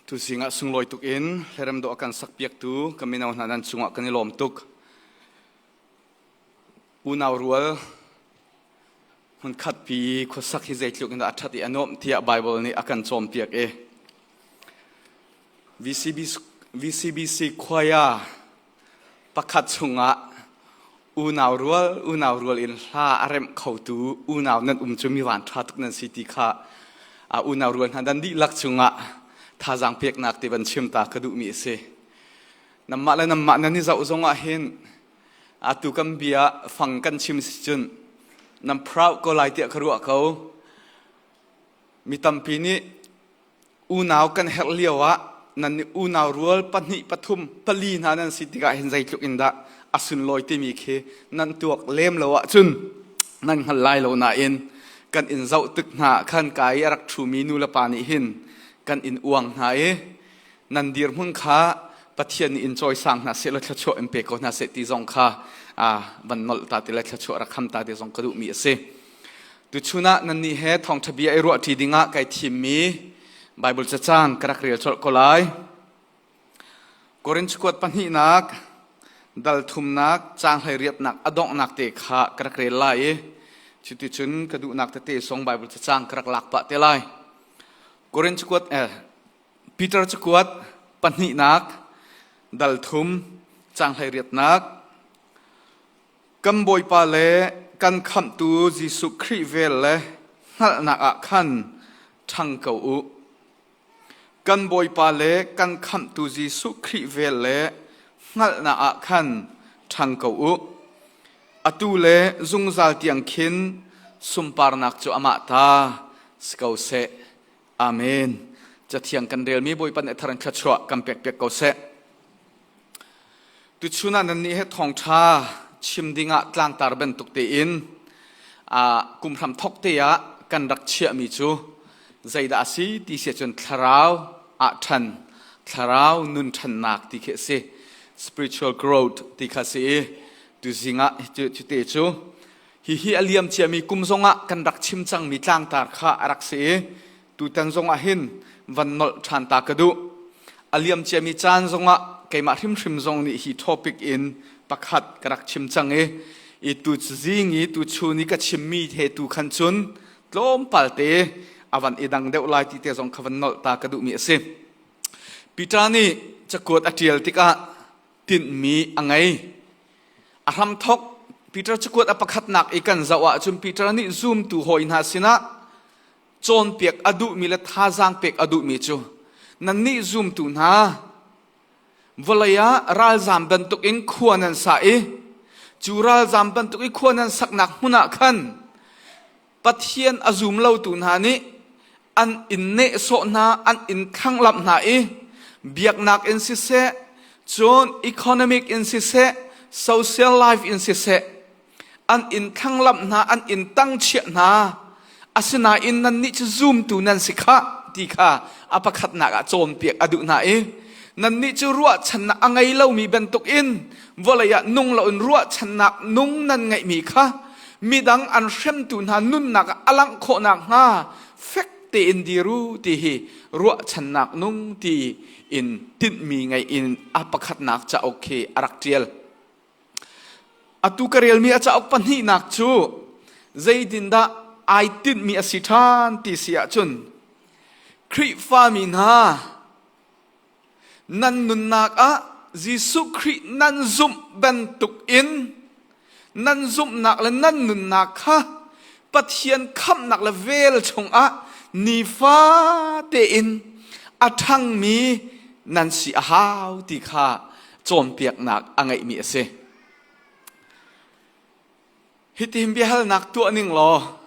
Tu zingah sunglawi tuk in hlerem dawh a kan sakpiaktu ka mino hna nan cungah kan i lawm tuk. Unau rual hmunkhat pi khuasak hi zeitluk in dah a ṭhat i a nuamh tiah Baibal nih a kan cawnpiak i VCBC, VCBC choir pakhat chungah unau rual unau rual in hla a remh khotu unau nan um cu mi vanṭha tuk nan si ti kha a unau rual hna dan dihlak chungah thazaang peknak ti van chim ta ka duhmi a si nanmah le nanmah nan i zoh zongah hin atu kan bia fang kan chim si cun nan proud ko lai tiah ka ruah ko Mi tampi nih unau kan herh lio ah nan nih unau rual pahnih pathum pali hna nan si tikah hin zeitluk in dah a sunlawi timi khi nan tuak lem lo ahcun nan hngal lai lo nain kan in zoh tik hna ah khan ka i a rak ṭhumi nulepa nih hin kan in uang hna i nan dirhmun kha Pathian nih in cawisang hna seh law thluachuah in pe ko hna seh ti zong kha van nolh ta ti le thluachuah rak kham ta ti zong ka duhmi a si. Tuchun ah nannih he thawngṭha bia i ruah ṭi dingah kai thimmi Baibal cacang ka rak rel colh ko lai. Korinth kuat pahnihnak dal thumnak caang hleiriapnak a donghnak te kha ka rak rel lai i cuticun ka duhnak tete song Baibal cacang ka rak lak pah te lai. Korinth kuat eh, Peter cukuat pahnihnak dal thum caang hleiriapnak Kan Bawipa le kan Khamhtu Jesuh Khrih vel le hngalhnak ah khan ṭhang ko u. Kan Bawipa le kan Khamhtu Jesuh Khrih vel le hngalhnak ah khan ṭhang ko u. Atu le zungzal tiang khin sunparnak cu amah ta si ko seh. Amen. Cathiang kan relmi Bawipa nih a thar in thluachuah kan pekpiak ko seh. Tuchun ah nannih he thawngṭha chim ding ah tlangtar bantuk tein kum hram thawk te ah kan rak chiahmi cu zeidah a si ti si cun thlarau ah ṭhan thlarau nun ṭhannak ti khi a si spiritual growth ti kha a si i tuzing ah cute cu hihi a liam ciami kum zong ah kan rak chim cangmi tlangtar kha a rak si i Tutan zongah hin van nolh ṭhan ta ka duh. A liam ciami caan zongah keimah hrimhrim zong nih hi topic in pakhat ka rak chim cang i i tu zing i tu chun i ka chimmi he tu khan cun tlawmpal te a van i dang deuh lai ti te zong kha van nolh ta ka duhmi a si. Peter nih cakuat a ṭial tikah tinhmi a ngei. A hramthok Peter cakuat a pakhatnak i kan zoh ahcun Peter nih zumtu hawi hna sinah cawnpiak a duhmi le thazaang pek a duhmi cu nannih zumtu hna vawlei ah ralzam bantuk in khua nan sa i cu ralzam bantuk i khua nan saknak hmun ah khan pathian a zum lotu hna nih an in nehsawh hna an in thlanglamh hna i biaknak in siseh cun economic in siseh social life in siseh an in thlanglamh hna an in tangchiah hna asinain nannih cu zumtu nan si khah ti kha a pakhatnak ah cawnpiak a duh hna i nannih cu ruahchannak a ngei lomi bantukin vawlei ah nung loin ruahchannak nung nan ngeihmi kha midang an hremtu hna nunnak ah a langh khawh nakhnga fek tein dir u ti hi ruahchannak nung ti in tinhmi ngei in a pakhatnak cauk khi a rak ṭial. Atu ka relmi a cauk pahnihnak cu zeitindah ai tinhmi a si ṭhan ti si ahcun Khrihfami hna nan nunnak ah Jesuh Khrih nan zumh bantukin nan zumhnak le nan nunnak kha Pathian khamhnak le vel chungah nifa tein a ṭhangmi nan si a hau ti kha cawnpiaknak a ngeihmi a si. Hitin biahalnak tuah ning law,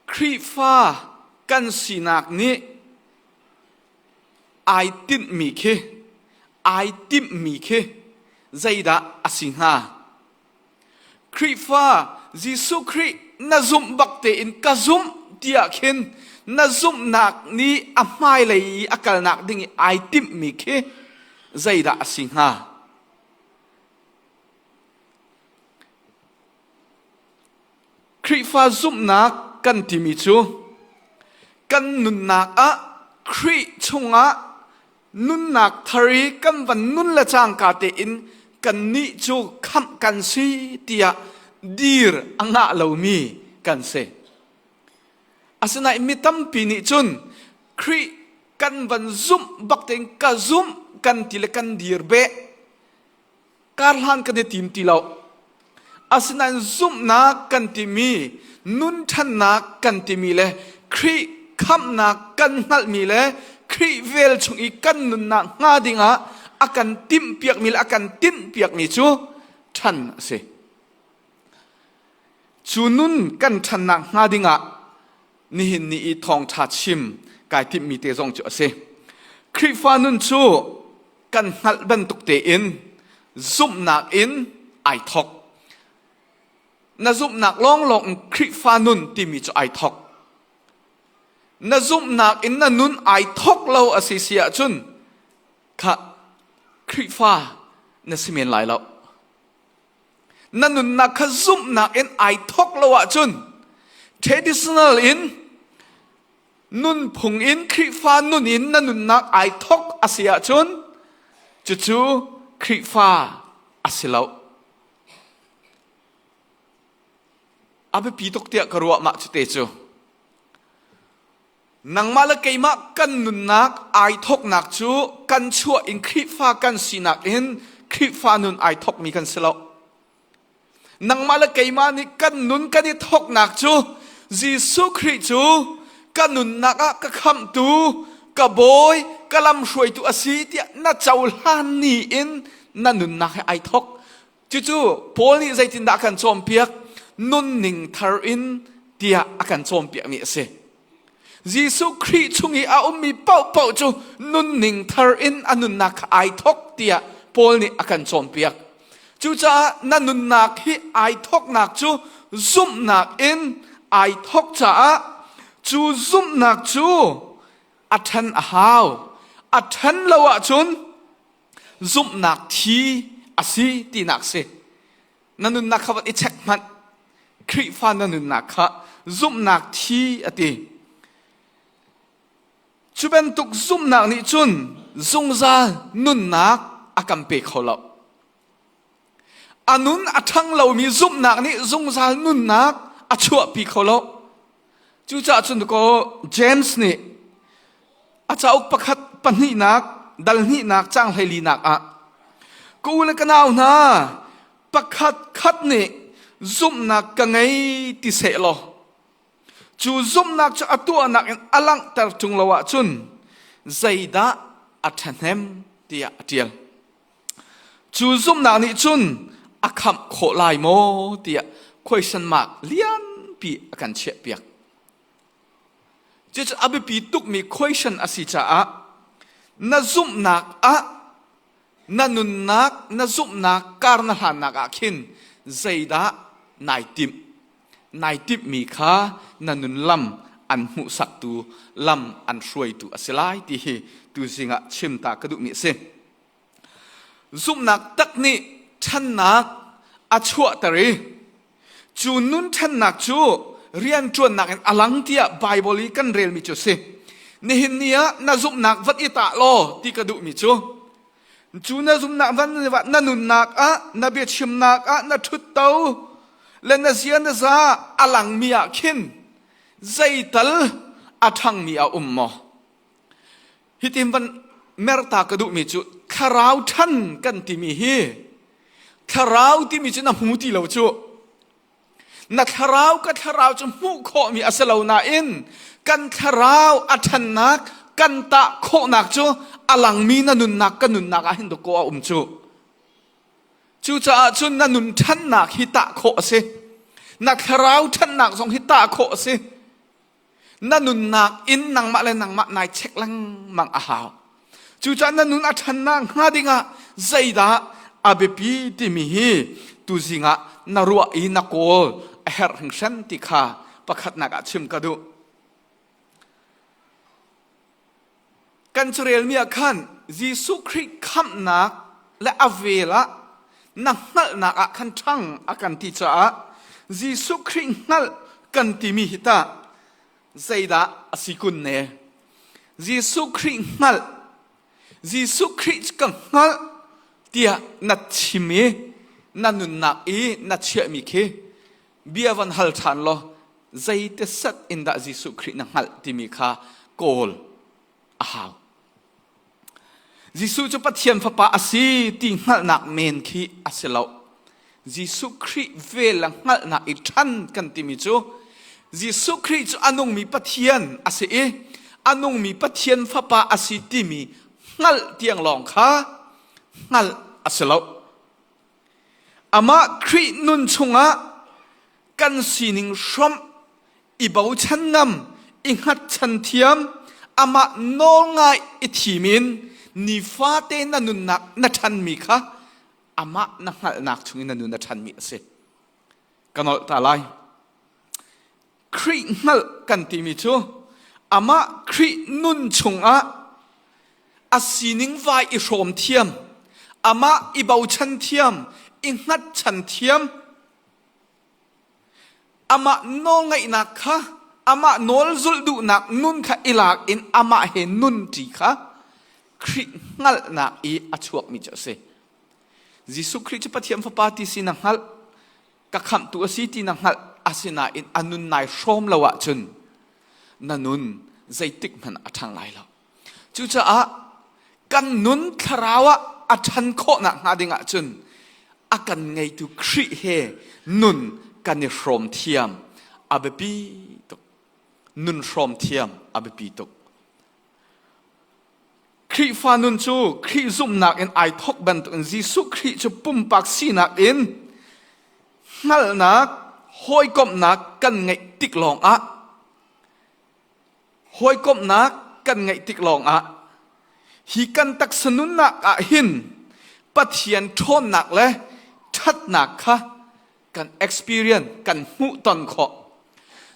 Khrihfa kan sinak nih ai timhmi khi, ai timhmi khi zeidah a si hnga? Khrihfa Jesuh Khrih na zumh bak tein ka zumh tiah khin na zumhnak nih a hmailei i a kalnak ding i ai timhmi khi zeidah a si hnga? Khrihfa zumhnak kan timi cu kan nunnak ah Khrih chungah nunnak thar i kan van nun le cangka tein kannih cu khamh kan si tiah dir a ngah lomi kan si. Asinain mi tampi nih cun Khrih kan van zumh bak tein ka zumh kan ti le kan dir beh karhlan kan i tim ti lo. Asinain zumhnak kan timi, nun ṭhannak kan timi le Khrih khamhnak kan hngalhmi le Khrih vel chung i kan nunnak hnga dingah a kan timhpiakmi le a kan tinhpiakmi cu ṭhan a si. Cu nun kan ṭhan nakhnga dingah nihin ni i thawngṭha chim kai timhmi te zong cu a si. Khrihfa nun cu kan hngalh bantuk tein zumhnak in ai thawk. Na zumhnak lawnglawng in Khrihfa nun timi cu ai thawk. Na zumhnak in na nun ai thawk lo a si si ahcun kha Khrihfa na si men lai lo. na nunnak kha zumhnak in ai thawk lo ahcun traditional in nunphung in Khrihfa nun in na nunnak ai thawk a si ahcun cucu Khrihfa a si lo. A biapi tuk tiah ka ruah mah cu te cu. nangmah le keimah kan nunnak ai thawknak cu kan chuah in Khrihfa kan sinak in Khrihfa nun ai thawkmi kan si lo. Nangmah le keimah nih kan nun kan i thawknak cu Jesuh Khrih cu ka nunnak ah ka khamhtu, ka bawi, ka lamhruaitu a si tiah na cohlan ni in na nunnak he ai thawk. Cucu Paul nih zeitindah a kan cawnpiak? Nunning thar in tiah a kan cawnpiakmi a si. Jesuh Khrih chung i a ummi paohpaoh cu nunning thar in a nunnak kha ai thawk tiah Paul nih a kan cawnpiak. Cucaah na nunnak hi ai thawknak cu zumhnak in ai thawk caah cu zumhnak cu a ṭhen a hau. A ṭhen lo ahcun zumhnak thi a si tinak si na nunnak kha i check hmanh Khrihfa na nunnak kha zumhnak thi a ti cu bantuk zumhnak nih cun zungzal nunnak a kan pe kho lo A nun a ṭhang lomi zumhnak nih zungzal nunnak a chuahpi kho lo. Cucaah cun kaw James nih a cauk pakhat pahnihnak dal hnihnak cang hleilinak ah ka u le ka nau hna pakhat khat nih zumhnak ka ngei ti seh law cu zumhnak cu a tuahnak in a langhter ṭung lo ahcun zeidah a ṭhahnem tiah a ṭial. Cu zumhnak nih cun a khamh khawh lai maw tiah question mark lianpi a kan chiahpiak. Cucu a biapi tukmi question a si caah na zumhnak ah na nunnak na zumhnak kar na hlannak ah khin zeidah nai timh nai timhmi kha na nun lam an hmuhsaktu lam an hruaitu a si lai ti hi tuzing ah chim ta ka duhmi a si. zumhnak tak nih ṭhannak a chuahter i cu nun ṭhannak cu rianṭuannak in a lang tiah Baibal i kan relmi cu a si. Nihin ni ah na zumhnak vat i tah law ti ka duhmi cu cu na zumhnak van na nunnak ah na biachimnak ah na ṭhutto le na zia na za a langmi ah khin zeital a ṭhangmi a um maw? hitin van merta ka duhmi cu thlarau ṭhan kan timi hi thlarau timi cu na hmu ti lo cu na thlarau ka thlarau cu hmuh khawhmi a si lo nain kan thlarau a ṭhannak kan tah khawhnak cu a langmi na nunnak ka nunnak ah hin dawkaw a um cu cucaah cun na nun ṭhannak hi tah khawh a si na thlarau ṭhannak zong hi tah khawh a si Na nunnak in nangmah le nangmah nai check lengmang a hau. Cucaah na nun a ṭhannak hnga dingah zeidah a biapi timi hi tuzing ah na ruah i na kawl a herh hringhren ti kha pakhatnak ah chim ka duh. Kan carelmi ah khan Jesuh Khrih khamhnak le a vel ah na hngalhnak ah khan ṭhang a kan ti caah Jesuh Khrih hngalh kan timi hi tah zeidah a si kun ne? Jesuh Khrih hngalh, Jesuh Khrih cu ka hngalh tiah na chim i na nunnak i na chiahmi khi Bia van hal ṭhan law zeite set in dah Jesuh Khrih na hngalh timi kha kawl a hau. Jesuh cu Pathian Fapa a si ti hngalhnak men khi a si lo. Jesuh Khrih vel a hngalhnak i ṭhan kan timi cu Jesuh Khrih cu a nungmi Pathian a si i a nungmi Pathian Fapa a si timi hngalh tiang lawng kha hngalh a si lo. Amah Khrih nun chungah kan sining hrawm i bochan ngam i hngatchan thiam amah nawl ngai i thim in nifate na nunnak na ṭhanmi kha amah na hngalhnak chungin na nun a ṭhanmi a si. Ka nolh ta lai. Khrih hngalh kan timi cu amah Khrih nun chungah a sining vai i hrawm thiam amah i bochan thiam i hngatchan thiam amah nawlngaihnak kha amah nawl zulh duhnak nun kha i lak in amah he nun ṭi kha Khrih hngalhnak i a chuakmi cu a si. Jesuh Khrih cu Pathian Fapa ti si na hngalh ka khamhtu a si ti na hngalh asinain a nun nai hrawm lo ahcun na nun zeitik hmanh a ṭhang lai lo cucaah kan nun thlarau ah a ṭhan khawh nakhnga ding ahcun a kan ngeitu Khrih he nun kan i hrawm thiam a biapi tuk nun hrawm thiam a biapi tuk Khrihfa nun cu Khrih zumhnak in ai thawk bantukin Jesuh Khrih cu pumpak sinak in hngalhnak, hawikomhnak kan ngeih tik lawngah hawikomhnak kan ngeih tik lawngah hi kan taksa nunnak ah hin Pathian ṭhawnnak le ṭhatnak kha kan experience kan hmuh ton khawh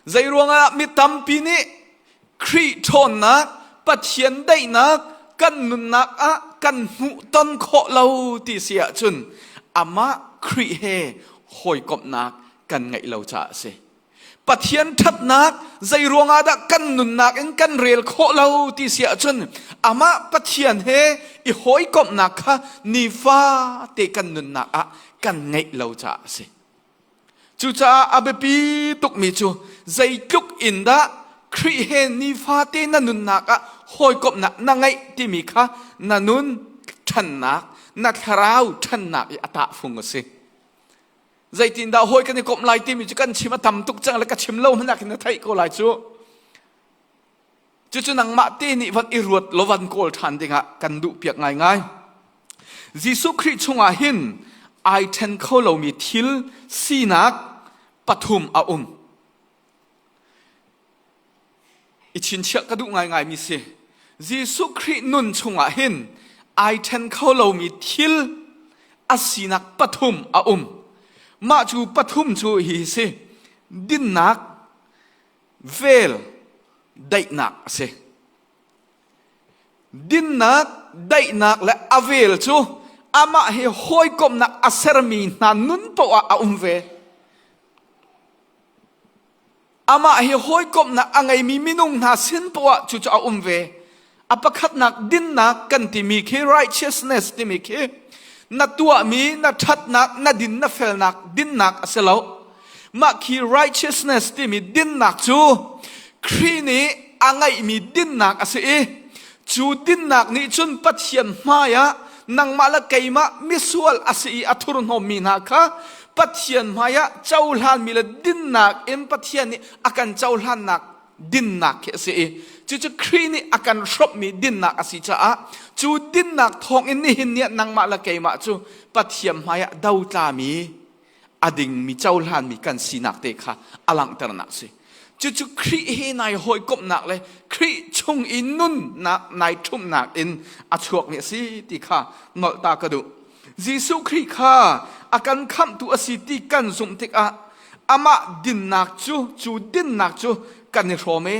zei ruangah mi tampi nih Khrih ṭhawnnak Pathian daihnak kan nunnak ah kan hmuh ton khawh lo ti si ahcun amah Khrih he hawikomhnak kan ngeih lo caah a si Pathian ṭhatnak zei ruangah dah kan nunnak in kan rel khawh lo ti si ahcun amah Pathian he i hawikomhnak kha nifate kan nunnak ah kan ngeih lo caah a si. Cucaah a biapi tukmi cu zeitluk in dah Khrih he nifate na nunnak ah hawikomhnak na ngeih timi kha na nun ṭhannak, na thlarau ṭhannak i a tahfung a si. Zeitindah hawi kan i komh lai timi cu kan chim a tam tuk cang le ka chim lo hmanh ah khin na theih ko lai cu. Cucu nangmah te nih van i ruat law van kawl ṭhan dingah kan duhpiak ngaingai. Jesuh Khrih chungah hin ai ṭhen kho lomi thil sinak pathum a um. I chinchiah ka duh ngaingaimi si. Jesuh Khrih nun chungah hin ai ṭhen kho lomi thil a sinak pathum a um. Mah cu pathum cu hi si. Dinnak, vel, daihnak a si. Dinnak, daihnak le a vel cu amah hi hawikomhnak a sermi hna nun paoh ah a um ve. Amah hi hawikomhnak a ngeimi minung hna sin poah cucu a um ve. A pakhatnak dinnak kan timi khi righteousness timi khi na tuahmi, na ṭhatnak, na din, na felnak dinnak a si lo. Mah khi righteousness timi dinnak cu Khrih nih a ngeihmi dinnak a si i Cu dinnak nih cun Pathian hmaiah nangmah le keimah misual a si i a thurhnawmmi hna kha Pathian hmaiah cohlanmi le dinnak in Pathian nih a kan cohlannak dinnak khi a si i cucu Khrih nih a kan hrawmhmi dinnak a si caah cu dinnak thawngin nihin ni ah nangmah le keimah cu Pathian hmaiah do tlami a dingmi cohlanmi kan sinak te kha a langhternak si. Cucu Khrih he nai hawikomhnak le Khrih chung i nunnak nai ṭhumhnak in a chuakmi a si ti kha nolhta ka duh. Jesuh Khrih kha a kan khamhtu a si ti kan zumh tikah amah dinnak cu cu dinnak cu kan i hrawm e.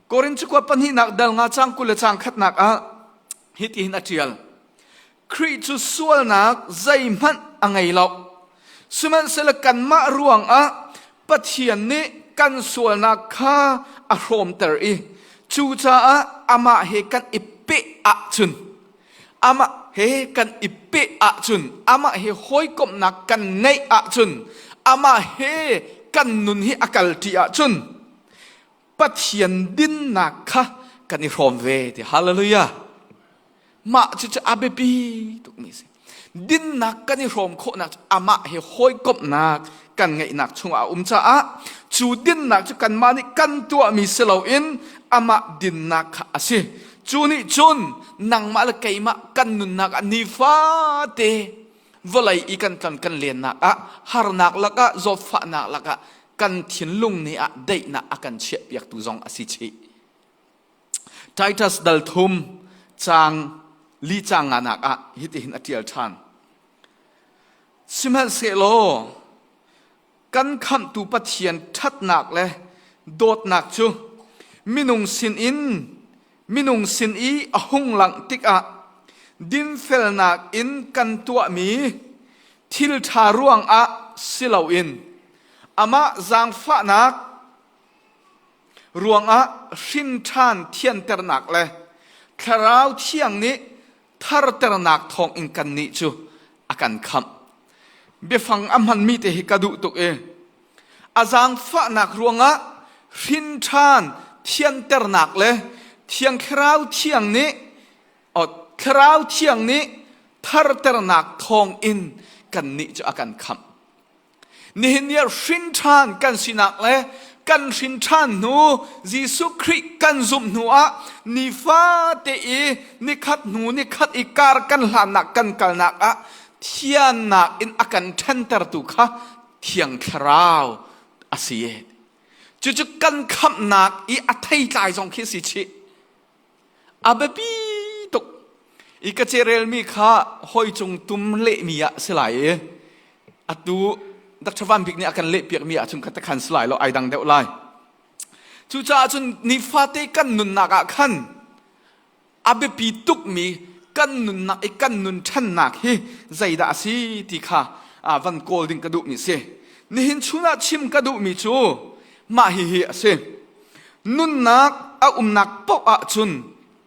Korin cakuat pahnihnak dal nga cang kul le cang khatnak ah Hitihin a ṭial, Khrih cu sualnak zeihmanh a ngei lo. Sihmanhsehlaw kanmah ruangah Pathian nih kan sualnak kha a hrawmter i cucaah amah he kan i peh ahcun amah he kan i peh ahcun amah he hawikomhnak kan ngeih ahcun amah he kan nun hi a kalṭi ahcun Pathian dinnak kha kan i hrawm ve ti hallelujah mah cu cu a biapi tukmi si dinnak kan i hrawm khawhnak cu amah he hawikomhnak kan ngeihnak chungah a um caah cu dinnak cu kanmah nih kan tuahmi si loin amah dinnak kha a si cu nih cun nangmah le keimah kan nunnak ah nifate vawlei i kan kan kan lennak ah harnak lakah zawtfahnak lakah kan thinlung nih ah deihnak a kan chiah piaktu zong a si chih Titus dal thum chang li chang nga nak ah hitihin a tial than sihmanhsehlaw kan khamhtu Pathian ṭhatnak le dawtnak cu minung sinin minung sin i a hung langh tikah dinfelnak in kan tuahmi thil ṭha ruangah si loin amah zaangfahnak ruangah hrinṭhan thianternak le thlarau thiang nih tharternak thawng in kannih cu a kan khamh. Biafang a hmanmi te hi ka duh tuk i a zaangfahnak ruangah hrinṭhan thianternak le thiang thlarau thiang nih o, thlarau thiang nih tharternak thawng in kannih cu a kan khamh. Nihin ni ah hrinṭhan kan sinak le kan hrinṭhan hnu Jesuh Khrih kan zumh hnu ah nifate i nikhat hnu nikhat i kar kan hlannak kan kalnak ah thiannak in a kan ṭhentertu kha thiang thlarau a si. Cucu kan khamhnak i a theitlai zong khi si chih. A biapi tuk i ka cerelmi kha hoi cung tum lehmi ah si lai i atu Dr. Van Bik nih a kan lehpiakmi ahcun ka takhan si lai lo ai dang deuh lai. Cucaah cun nifate kan nunnak ah khan a biapi tukmi kan nunnak i kan nun ṭhannak hi zeidah a si ti kha ah van kawl ding ka duhmi si. Nihin chun ah chim ka duhmi cu mah hihi a si. Nunnak a umnak paoh ah cun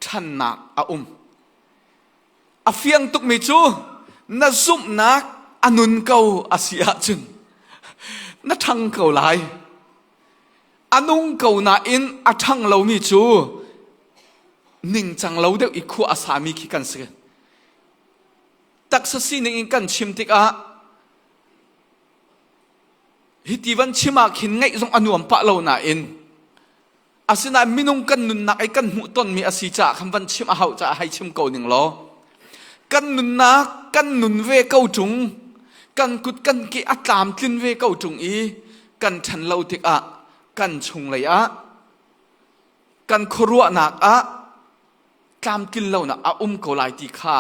ṭhannak a um. A fiang tukmi cu na zumhnak a nun ko a si ahcun na ṭhang ko lai. A nung ko nain a ṭhang lomi cu ningcang lo deuh i khua a sami khi kan si. Taksa sining in kan chim tikah Hiti van chim ah khin ngaih zong a nuam pah lo nain asinain minung kan nunnak i kan hmuh tonmi a si caah khan van chim a hau caah hei chim ko ning law kan nunnak kan nun ve ko ṭung kan kut kan ke a tlamtlin ve ko ṭung i kan ṭhan lo tikah kan chunglei ah kan khuaruahnak ah tlamtlin lonak a um ko lai ti kha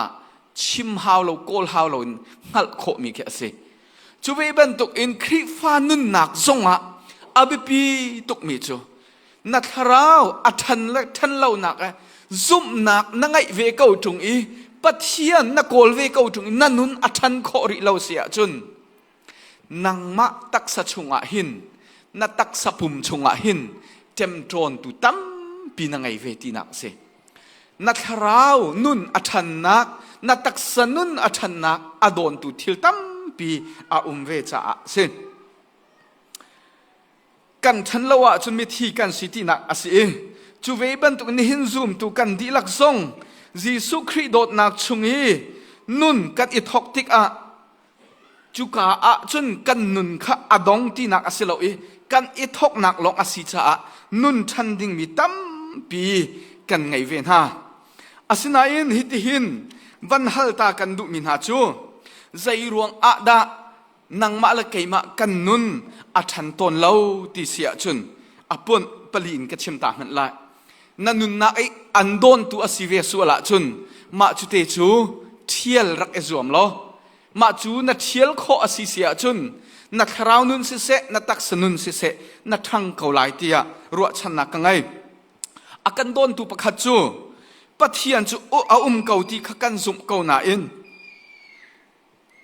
chim hau lo kawl hau lo in hngalh khawhmi khi a si cu ve bantuk in Khrihfa nunnak zongah a biapi tukmi cu na thlarau a ṭhan le ṭhan lonak eh zumhnak na ngeih ve ko ṭung i Pathian na kawl ve ko ṭung i na nun a ṭhan khawh rih lo si ahcun nangmah taksa chungah hin na taksa pum chungah hin ṭemṭawntu tampi na ngei ve tinak a si na thlarau nun a ṭhannak na taksa nun a ṭhannak a dawntu thil tampi a um ve caah a si kan ṭhan lo ahcun mithi kan si tinak a si i cu ve bantuk nihin zumtu kan dihlak zong Jesuh Khrih dawtnak chung i nun kan i thawk tikah Cuka ah cun kan nun kha a dong tinak a si lo i kan i thawknak lawng a si caah nun ṭhan dingmi tampi kan ngei ve hna. Asinain hitihin van halta kan duhmi hna cu zei ruang ah dah nangmah le keimah kan nun a ṭhan tawn lo ti si ahcun a punh pali in ka chim ta hmanh lai. Na nunnak i an dawntu a si ve sual ahcun mah cu te cu ṭhial rak i zuam law mah cu na ṭhial khawh a si si ahcun na thlarau nun siseh na taksa nun siseh na ṭhang ko lai tiah ruahchannak ka ngei. A kan dawntu pakhat cu Pathian cu a um ko ti kha kan zumh ko nain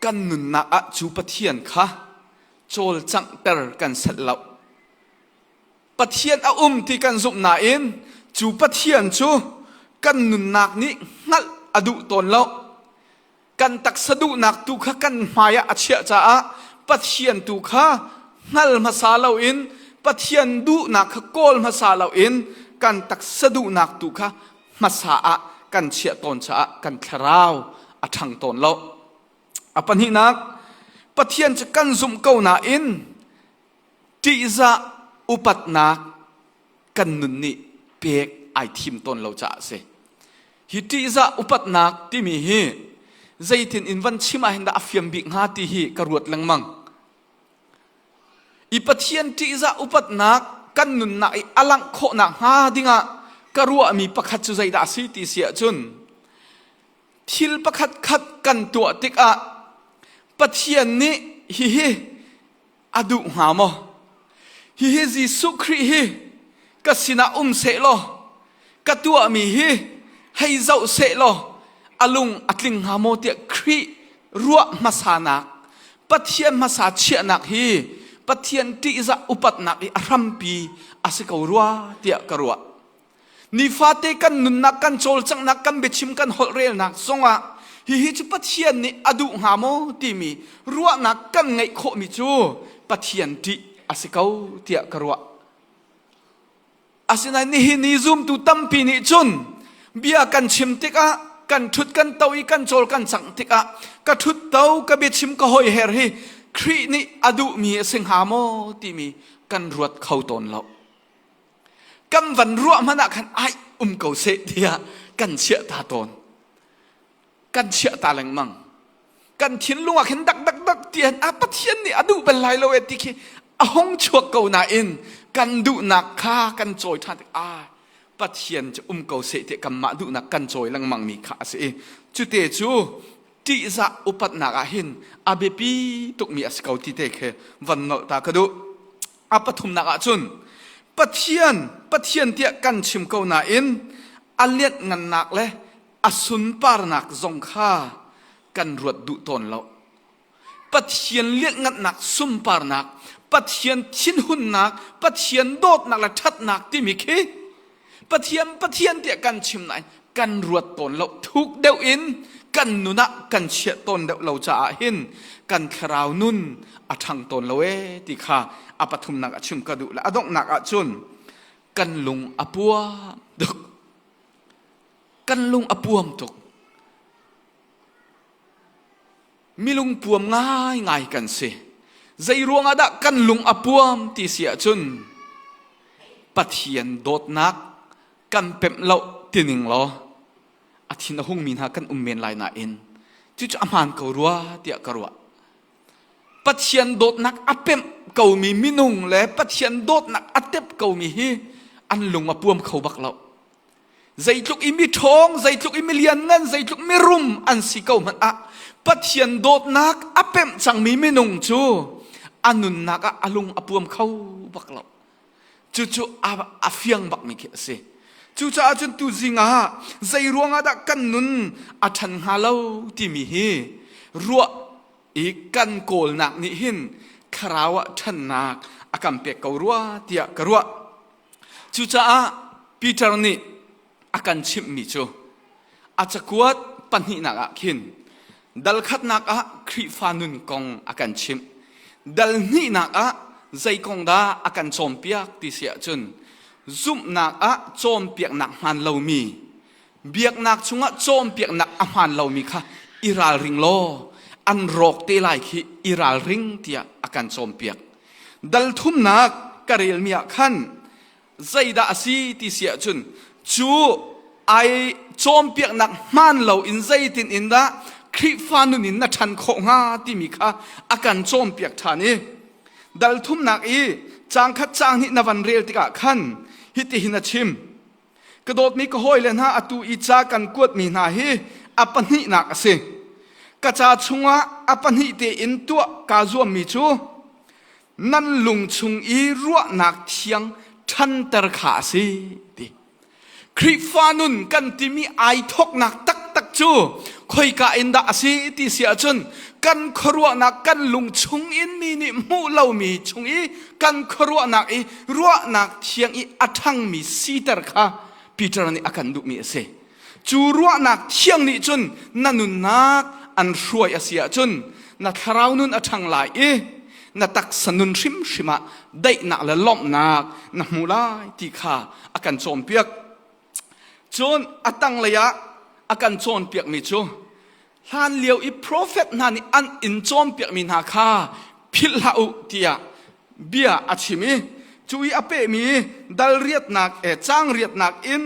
kan nunnak ah cu Pathian kha cawlcanghter kan set loh. Pathian a um ti kan zumh nain cu Pathian cu kan nunnak nih hngalh a duh tawn lo. Kan taksa duhnak tu kha kan hmaiah a chiah caah Pathian tu kha hngal hmasa loin Pathian duhnak kha kawl hmasa loin kan taksa duhnak tu kha hmasa ah kan chiah tawn caah kan thlarau a ṭhang tawn lo. A pahnihnak, Pathian cu kan zumh ko nain ṭihzah upatnak kan nun nih pek ai thim tawn lo caah a si. Hi ṭihzah upatnak timi hi zeitin in van chim ah hin dah a fiam bik hnga ti hi ka ruat lengmang. I Pathian ṭihzah upatnak kan nunnak i a langh khawh nakhnga dingah ka ruahmi pakhat cu zeidah a si ti si ahcun thil pakhat khat kan tuah tikah Pathian nih hihi a duh hnga maw? Hihi Jesuh Khrih hi ka sinah um seh law, ka tuahmi hi hei zoh seh law, a lung a tling hnga maw tiah Khrih ruah hmasanak, Pathian hmasa chiahnak hi Pathian ṭihzah upatnak i a hrampi a si ko rua tiah ka ruah. Nifate kan nunnak kan cawlcanghnak kan biachim kan holh relnak zongah hihi cu Pathian nih a duh hnga maw timi ruahnak kan ngeih khawhmi cu Pathian ṭih a si ko tiah ka ruah. Asinain nihin i zumtu tampi nih cun bia kan chim tikah kan ṭhut kan to i kan cawl kan cang tikah ka ṭhut to ka biachim ka hoi her hi Khrih nih a duhmi a si hnga maw timi kan ruat kho tawn lo. kan van ruah hmanh ah khan ai um ko seh tiah kan chiah ta tawn kan chiah ta lengmang kan thinlung ah khin dak dak dak tian a pathian nih a duh bel lai lo e ti khi a hong chuak ko nain kan duhnak kha kan cawi ṭhan ah pathian cu um ko seh tiah kanmah duhnak kan cawi lengmang mi kha a si i cute cu ṭihzah upatnak ah hin a biapi tukmi a si ko ti te khi van nolh ta ka duh a pathumnak ah cun Pathian Pathian tiah kan chim ko nain a lianhngannak le a sunparnak zong kha kan ruat duh tawn lo. Pathian lianhngannak sunparnak, Pathian thinhunnak, Pathian dawtnak le ṭhatnak timi khi Pathian Pathian tiah kan chim nain kan ruat tawn lo thuk deuh in kan nun ah kan chiah tawn deuh lo caah hin kan thlarau nun a ṭhang tawn lo e ti kha a pathumnak a chim ka duh le a donghnak ah cun kan lung a puam tuk kan lung a puam tuk milungpuam ngaingai kan si zeiruang ah dah kan lung a puam ti si ahcun pathian dawtnak kan pemh lo tining law a thin a hungmi hna kan um men lai nain cucu a hmaan ko rua tiah ka ruah pathian dawtnak a pemh komi minung le pathian dawtnak a tep komi hi an lung a puam kho bak lo Zeitluk i miṭhawng, zeitluk i milianngan, zeitluk mirum an si ko hmanh ah Pathian dawtnak a pemh cangmi minung cu a nunnak ah a lung a puam kho bak lo. Cucu a, a fiang bakmi khi a si. Cucaah cun tuzing ah zei ruangah dah kan nun a ṭhan hnga lo timi hi ruah i kan kawlnak nih hin thlarau ah ṭhannak a kan pek ko rua tiah ka ruah. Cucaah Peter nih a kan chimhmi cu a cakuat pahnihnak ah khin dalkhatnak ah Khrihfa nun kong a kan chimh. Dal hnihnak ah zei kong dah a kan cawnpiak ti si ahcun zumhnak ah cawnpiaknak hmaan lomi biaknak chungah cawnpiaknak a hmaan lomi kha i ralring law an rawk te lai khi i ralring tiah a kan cawnpiak dal thumnak ka relmi ah khan zeidah a si ti si ahcun cu ai cawnpiaknak hmaan loin zeitin in dah Khrihfa nun in na ṭhan khawh hnga timi kha a kan cawnpiak ṭhan i dal thumnak i cang khat cang hnih na van rel tikah khan hitihin a chim Ka dawtmi ka hawile hna atu i ca kan kuatmi hna hi a pahnihnak a si. Ka ca chungah a pahnih tein tuah kaa zuammi cu nan lung chung i ruahnak thiang ṭhanter kha a si ti. Khrihfa nun kan timi ai thoknak taktak cu khoika in dah a si ti si ahcun kan khuaruahnak kan lung chung in mi nih hmuh lomi chung i kan khuaruahnak i ruahnak thiang i a ṭhangmi siter kha Peter nih a kan duhmi a si. Cu ruahnak thiang nih cun na nunnak an hruai a si ahcun na thlarau nun a ṭhang lai i na taksa nun hrimhrim ah daihnak le lawmhnak na hmu lai ti kha a kan cawnpiak. Cun a tanglei ah a kan cawnpiakmi cu hlanlio i profet hna nih an in cawnpiakmi hna kha philhhlah u tiah bia a chim i cu i a pehmi dal riatnak e cang riatnak in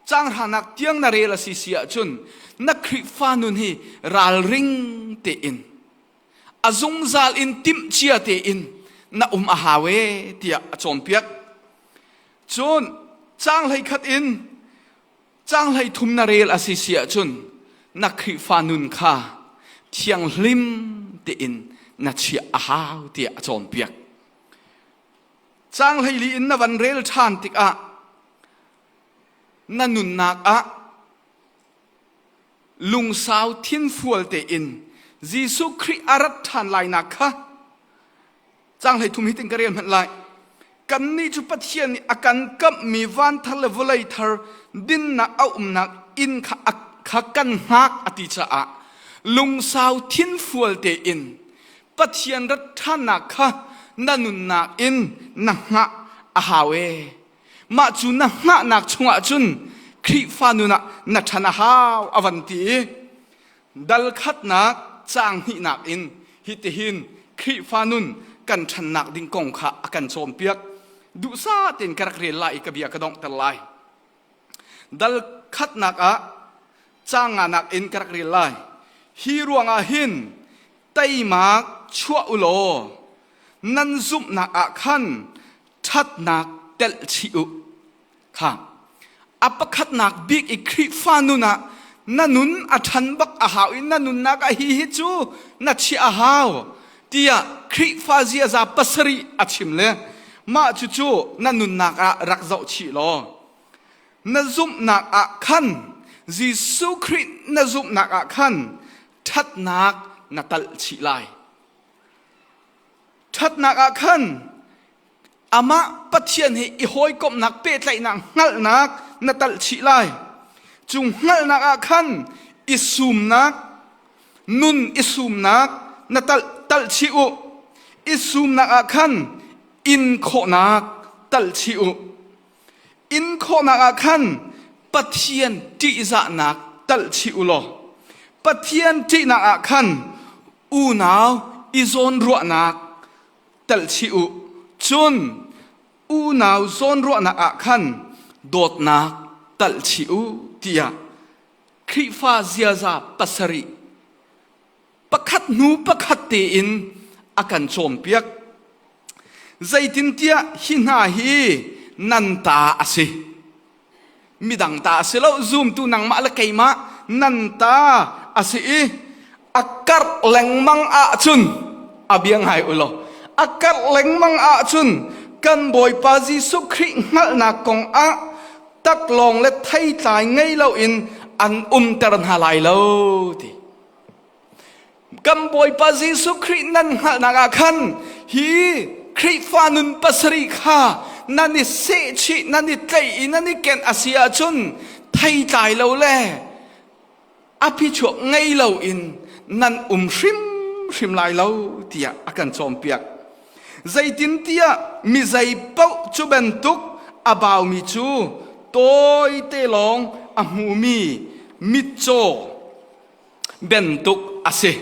changhranak tiang na rel a si si ahcun na Khrihfa nun hi ralring tein a zungzal in timhcia tein na um a hau e tiah a cawnpiak cun cang hlei khat in Cang hleithum na rel a si si ahcun na Khrihfa nun kha thianghlim tein na chiah a hau tiah a cawnpiak. Cang hleili in na van rel ṭhan tikah na nunnak ah lungsau thinfual tein Jesuh Khrih a rat ṭhan lainak kha Cang hlei thum hi tin ka rel hmanh lai. Kan nih cu Pathian nih a kan kamhmi van thar le vawlei thar dinnak a umnak inn kha kha kan hngak a ti caah lungsau thinfual tein Pathian rat ṭhannak kha na nunnak in na hngah a hau ee. Mah cu na hngahnak chungah cun Khrihfa nun ah na ṭhan a hau a van ti i Dal khatnak caang hnihnak in hitihin Khrihfa nun kan ṭhannak ding kong kha a kan cawnpiak. Duhsah tein ka rak rel lai i ka bia ka donghter lai. Dal khatnak ah caang nganak in ka rak rel lai. Hi ruangah hin teimak chuah u law nan zumhnak ah khan ṭhatnak telh chih u. kha a pakhatnak bik i Khrihfa nun ah na nun a ṭhan bak a hau i na nunnak ah hi hi cu na chiah a hau tiah Khrihfa ziaza pasarih a chim le mah cucu na nunnak ah rak zoh chih law na zumhnak ah khan Jesuh Khrih na zumhnak ah khan ṭhatnak na talh chih lai ṭhatnak ah khan Amah Pathian he i hawikomhnak pehtlaihnak hngalhnak na talh chih lai. Cu hngalhnak ah khan i sumnak, nun i sumnak na talh talh chih u. I sumnak ah khan inkhawhnak talh chih u. Inkhawhnak ah khan Pathian ṭihzahnak talh chih u law Pathian ṭihnak ah khan unau i zawnruahnak telchih u. Cun unau zawnruahnak ah khan dawtnak telchih u tiah Khrihfa ziaza pasarih pakhat hnu pakhat tein a kan cawnpiak. Zeitintiah hi hna hi nan ta a si. midang ta a si lo zumtu nangmah le keimah nan ta a si i a karh lengmang ahcun a bia ngai u law a karh lengmang ahcun kan bawipa jesuh khrih hngalhnak kong ah taklawng le theitlai ngei loin an umter hna lai lo ti Kan Bawipa Jesuh Khrih nan hngalhnak ah khan hi Khrihfa nun pasarih kha nan i sehchih, nan i tlaih i nan i ken a si ahcun theitlai lo le aphichuak ngei loin nan um hrimhrim lai lo tiah a kan cawnpiak. Zeitintiah mi zei paoh cu bantuk a baumi cu tawite lawng a hmumi mitcaw bantuk a si.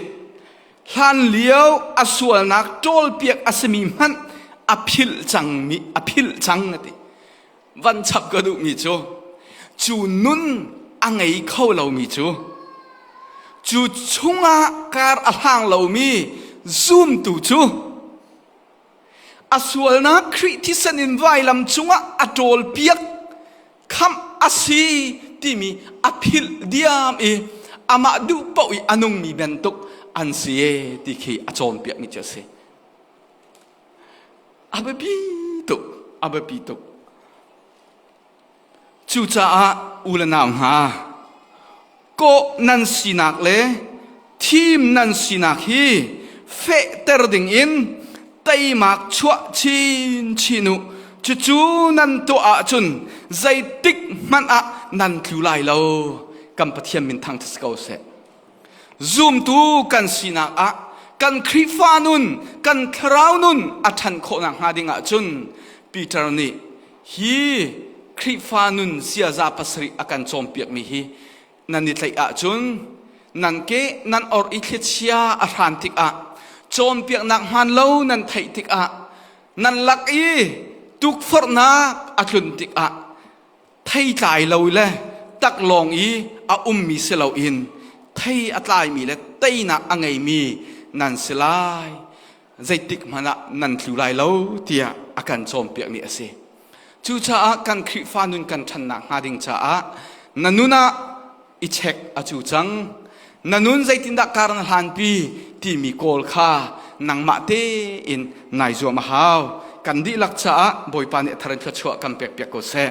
Hlanlio a sualnak ṭawlpiak a simi hmanh a philh cangmi a philh cang ati. Van chap ka duhmi cu cu nun a ngei kho lomi cu cu chungah kar a hlang lomi zumtu cu A sualnak Khrih thisen in vailam cungah a ṭawlpiak khamh a si timi a philh diam i amah duh paoh i a nungmi bantuk an si ti khi a cawnpiakmi cu a si. A biapi tuk, a biapi tuk. Cucaah u le nau hna, kawh nan sinak le thim nan sinak hi fehter dingin teimak chuah chinchin u. Cucu nan tuah ahcun zeitik hmanh ah nan tlu lai lo. Kan Pathian min thangṭhat si ko seh. Zumtu kan sinak ah kan Khrihfa nun, kan thlarau nun a ṭhan khawh nakhnga ding ahcun Peter nih hi Khrihfa nun ziaza pasarih a kan cawnpiakmi hi nan i tlaih ahcun nan ke nan or i thliachia a hran tikah cawnpiaknak hmaan lo nan theih tikah nan lak i tukforhnak a tlun tikah theitlai lo le taklawng i a ummi si loin thei a tlaimi le teinak a ngeimi nan si lai zeitik hmanh ah nan tlu lai lo tiah a kan cawnpiakmi a si. Cucaah kan Khrihfa nun kan ṭhannak hnga ding caah na nun ah i check a cu cang. Na nun zeitindah kar na hlanpi timi kawl kha nangmah tein nai zuam a hau. Kan dihlak caah Bawipa nih a thar in thluachuah kan pekpiak ko seh.